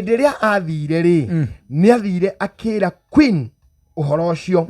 hĩndĩ ĩrĩa athire rĩ nĩ athire akĩra queen ũhoro ũcio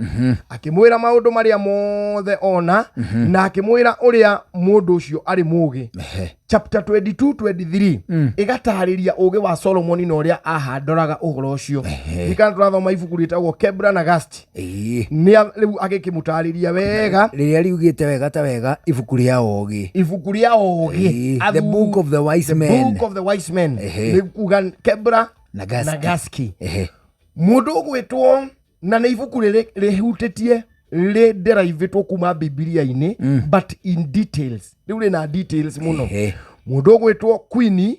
akĩmwĩra maũndũ marĩa mothe ona na akĩmwĩra ũrĩa mũndũ ũcio arĩ mũũgĩ Ehe. chapter 22 23 Mm. ĩgatarĩria ũũgĩ wa solomoni na ũrĩa ahandoraga ũhoro ũcio ikana tũrathoma ibuku rĩtagwo kebra na gasti Ĩĩ. nĩa rĩu agĩkĩmũtarĩria wega Rĩrĩa riugĩte wega ta wega ibuku rĩa ogĩ. ibuku rĩa ũgĩ Ĩĩ, Athu- The Book of the Wise The Men. Book of the Wise Men Ehe. nĩ kuga kebra Na Gaski. na gaski Ehe. mũndũ ũgwĩtwo na nĩ ibuku rĩrĩ rĩhutĩtie rĩnderaivĩtwo kuma bibilia-inĩ but in details rĩu rĩna details mũno Ehe. mũndũ ũgwĩtwo quini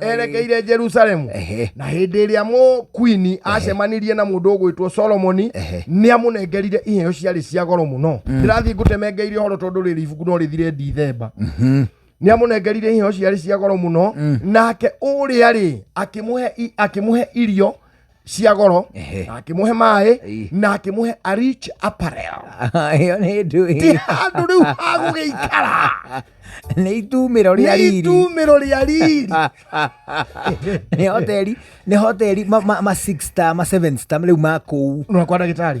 erekeire jerusalemu Ehe. na hĩndĩ ĩrĩa mũkwini acemanirie na mũndũ ũgwĩtwo solomoni Ehe. nĩ amũnengerire iheo ciarĩ cia goro mũno ndĩrathiĩ ngũtemengeire ũhoro tondũ rĩrĩ ibuku no rĩthire ndithemba nĩ amũnengerire iheo ciarĩ cia goro mũno nake ũrĩa rĩ akĩmũhe i- akĩmũhe irio cia goro Ehe. na akĩmũhe maĩ Ii. na akĩmũhe a rich apparel ĩyo nĩ ti ndũĩ handũ rĩu ha gũgĩikara nĩ itumĩro rĩa nĩ riri itumĩro rĩa riri nĩ hoteli nĩ hoteli ma- ma ma six star ma seven star rĩu ma kũu nona kwa ndagĩtarĩ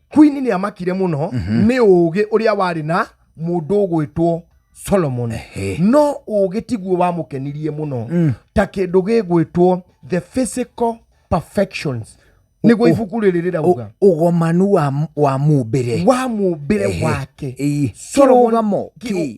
Queen nĩ amakire mũno nĩ ũũgĩ ũrĩa warĩ na mũndũ ũgwĩtwo Solomon Ehe. no ũũgĩ tiguo wamũkenirie mũno ta kĩndũ gĩgwĩtwo the physical perfections nĩguo ibuku rĩrĩ rĩrauga Ũ- ũgomanu wa, wa mũmbĩre wa mũmbĩre Ehe. wake Ĩĩ. Solomon- Kĩrũgamo ki- kĩ-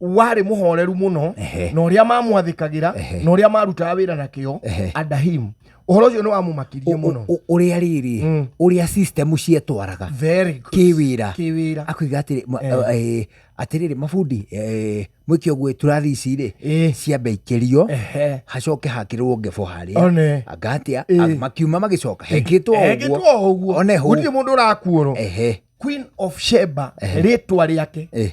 warĩ mũhoreru mũno Ehe. na ũrĩa mamwathĩkagĩra Ehe. na ũrĩa marutaga wĩra na kĩo Ehe. adahim ũhoro ũcio nĩ wamũmakirie mũno Ũ- ũ- ũrĩa rĩrĩ Mm. ũrĩa system cietwaraga Very good. kĩwĩra Kĩwĩra. akwiga atĩrĩ ma- Eh. eh, atĩrĩrĩ mabundi eh, mwĩke ũguo turathi ici rĩ Eh. ciambe ikĩrio Ehe. hacoke hakĩrwo ngebo harĩa One. angatia Eh. makiuma magĩcoka hekĩtwo Ekĩtwo ũguo ũguo one hũ gũtirĩ mũndũ ũrakuorwo Ehe. queen of sheba rĩtwa rĩake Eh.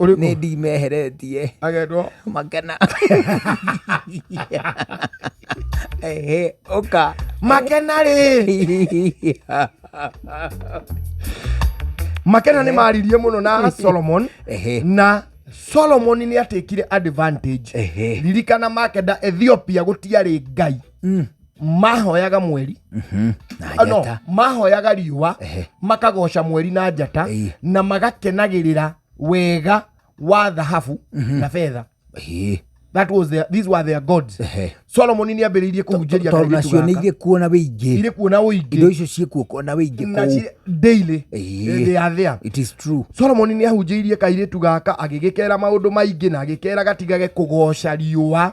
Ũrĩkũ? nĩ ndimeheretie agetwo makena Ehe, ũka makena rĩ makena nĩ maririe mũno na solomon Ehe. na solomon nĩ atĩkire advantage Ehe. ririkana makenda ethiopia gũtiarĩ ngai mahoyaga mweri Mhm. na Ah, no, njata mahoyaga riũa Ehe. makagoca mweri na njata Ĩĩ. na magakenagĩrĩra wega wa thahabu na betha Ĩĩ. that was their, these were their gods Ehe. solomon nĩ ambĩrĩirie kũhunjĩria tondũ nacio nĩ irĩ kuo na wĩingĩ irĩ kuona indo ũingĩ icio ciĩ kuo kuo na wĩingĩ na kũu ci- daily Ĩĩ. they are there it is true solomoni nĩ ahunjĩirie kairĩtu gaka agĩgĩkera maũndũ maingĩ na agĩkera gatigage kũgoca riũa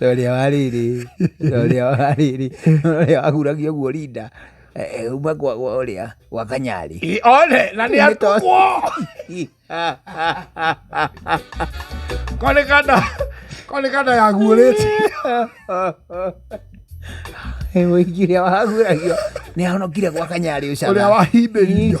Rorĩa wa rĩrĩ, rorĩa wa rĩrĩ, rorĩa wahuragia ũguo Linda. Eh, eh, uma kwa kwa ũrĩa, kwa kanyarĩ. Ĩ, one na nĩ atukwo kone kanda kone kanda yaguũrĩte Mũingĩria wahuragio, nĩ ahonokire kwa kanyarĩ ũcana. ũrĩa wahimbĩirio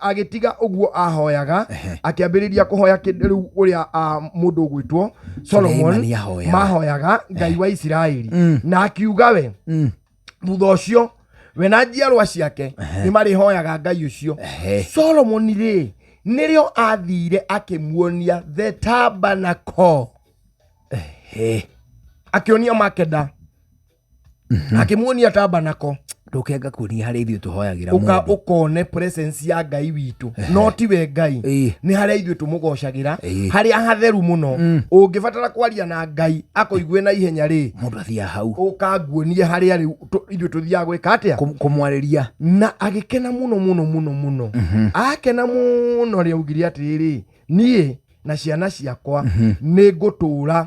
agĩtiga ũguo ahoyaga Ehe. akĩambĩrĩria kũhoya kĩ- rĩu ũrĩa ah, mũndũ ũgwĩtwo solomon Suleimani ahoyaga. mahoyaga ngai wa isiraeli Mm. na akiuga we Mm. thutha ũcio we na njiarwa ciake nĩ marĩhoyaga ngai ũcio Ehe. solomon rĩ nĩrĩo athire akĩmuonia the tabernacle He. akĩonia makeda Mhm. akĩmuonia tabanako ndũkenga kuonia harĩa ithuĩ tũhoyagĩra ũka mũndũ ũkone presence ya ngai witũ no tiwe ngai Ĩĩ. nĩ harĩa ithuĩ tũmũgocagĩra Ĩĩ. harĩa hatheru mũno Mm. ũngĩbatara kwaria na ngai akũigue na ihenya rĩ mũndũ athiaga hau ũkanguonie harĩa rĩu tũ- ithuĩ tũthiaga gwĩka atĩa Kũ- kũmwarĩria na agĩkena mũno mũno mũno mũno Mhm. akena mũno rĩaugire atĩrĩrĩ niĩ na ciana ciakwa nĩ ngũtũũra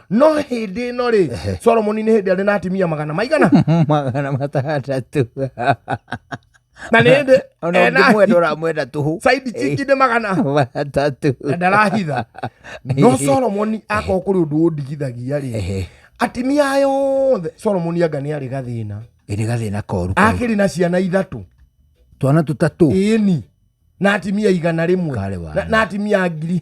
no hĩndĩ ĩno rĩ Ehe. solomoni nĩ hĩndĩ arĩ na atumia magana maigana magana matandatũ na nĩ hĩndĩ ona ena ũngĩmwenda ũramwenda tũhũ saidi ciki nĩ magana matatũ na ndarahitha no solomoni akorwo kũrĩ ũndũ ũndigithagia rĩ Ehe. atimia aya othe solomoni anga nĩ arĩ gathĩna Ĩ nĩ gathĩna koru koru. akĩrĩ na ciana ithatũ twana tũtatũ ĩni na atimia igana rĩmwe Karĩ wana. na, na atimia ngiri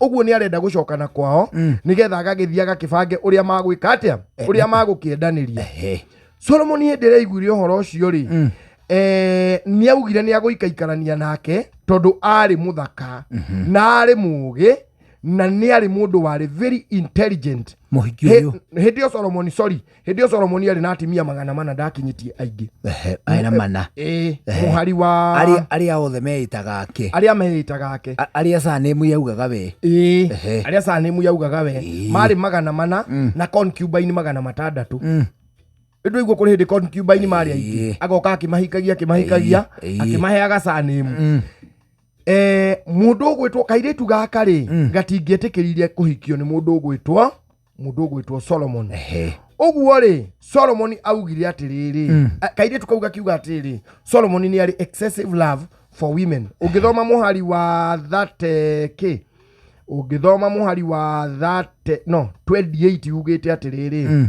ũguo nĩ arenda gũcokana kwao mm. nĩgetha agagĩthiĩ agakĩbange ũrĩa magwĩka atĩa eh, ũrĩa magũkĩendanĩria eh, solomoni hĩndĩ ĩrĩa aiguire ũhoro ũcio rĩ mm. eh, nĩ augire nĩ agũikaikarania nake tondũ arĩ mũthaka mm -hmm. na arĩ mũũgĩ na nä arä må ndå warä very intelligent hä ndä ä yo solomoni sorry hĩndĩ ĩyo solomoni arĩ na atimia magana mana ndakinyĩtie aingĩ Ehe, arĩ na mana ĩĩ Ehe. mũhari wa Arĩa- arĩa othe meĩtaga ake arĩa meĩtaga ake A- arĩa sanĩmu yaugaga we ĩĩ Ehe. arĩa sanĩmu yaugaga we Ĩĩ. marĩ magana mana na concubine magana matandatũ Mm. ĩndũ iguo kũrĩ hĩndĩ concubine marĩ aingĩ Ĩĩ. agoka akĩmahikagia akĩmahikagia Ĩĩ. Ĩĩ. akĩmaheaga sanĩmu Mm. Eh, mũndũ ũgwĩtwo kairĩtu gaka rĩ gatingĩetĩkĩrire kũhikio nĩ mũndũ ũgwĩtwo mũndũ ũgwĩtwo solomoni Ehe. ũguo rĩ solomoni augire atĩrĩrĩ mm. kairĩtu kau gakiuga atĩrĩrĩ solomoni nĩ arĩ excessive love for women ũngĩthoma mũhari wa thate kĩ ũngĩthoma mũhari wa thate no 28 ugĩte atĩrĩrĩ mm.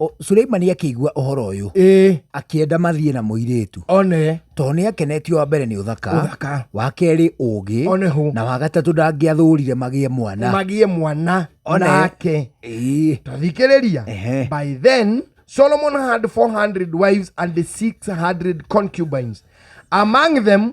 O- Suleimani akĩigua ũhoro ũyũ ĩĩ akĩenda mathiĩ na mũirĩtu one tondũ nĩ akenetio wa mbere nĩ ũthaka ũthaka wa kerĩ ũũgĩ one hũ na wa gatatũ ndangĩathũrire magĩe mwana magiĩ mwana One. nake Ĩĩ. tathikĩrĩria Ehe. by then solomon had 400 wives and 600 concubines among them